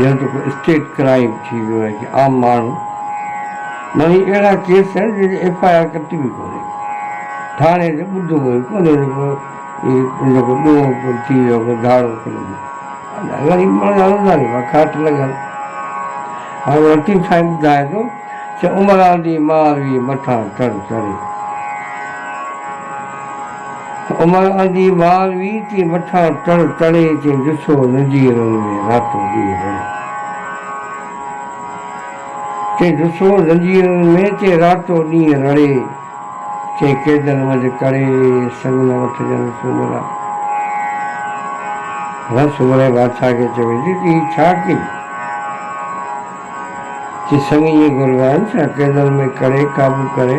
ڄڻ ته ڪو اسٽيٽ ڪرائيم ٿي ويو آهي جي عام ماڻهو نه هي اهڙا ڪيس آهن جن جي ايف آء آر ڪٽي به ڪونهي ٿاڻي جو ٻڌو به ڪونهي نه ڪو هي ان جو ڪو ڏوهه ٿي ويو ڪو ڌاڙو ٿي ويو الاء غريب ماڻهو جا روزاني پيا ڪاٽ لڳن هاڻي لطيف سائين ٻڌائي ٿو چي عمران جي ماء ويئي مٿان تر چڙهي. عمر اندي ٻار وي تي مٺان ٽڙ ٽڙي تي ڏٺو ندي رن ۾ راتو ڏينهن رڙيو تي ڏٺو ندي رن ۾ تي راتو ڏينهن رڙي تي قيدن منجھ ڪڙي سڱ نه وٺجن سومرا رن سومري بادشاهه کي چيو ويجهي تي هي ڇا ڪيئي تي سڱ ائين گهربان سان قيدن ۾ ڪڙي قابو ڪري.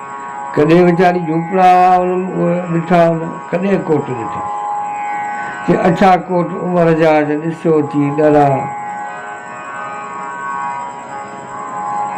ڪڏهن ويچاري جهوپڙا ڏٺا هن ڪڏهن ڪوٽ ڏٺا چي اڇا ڪوٽ عمر جا جا ڏسيو چي ڏرا.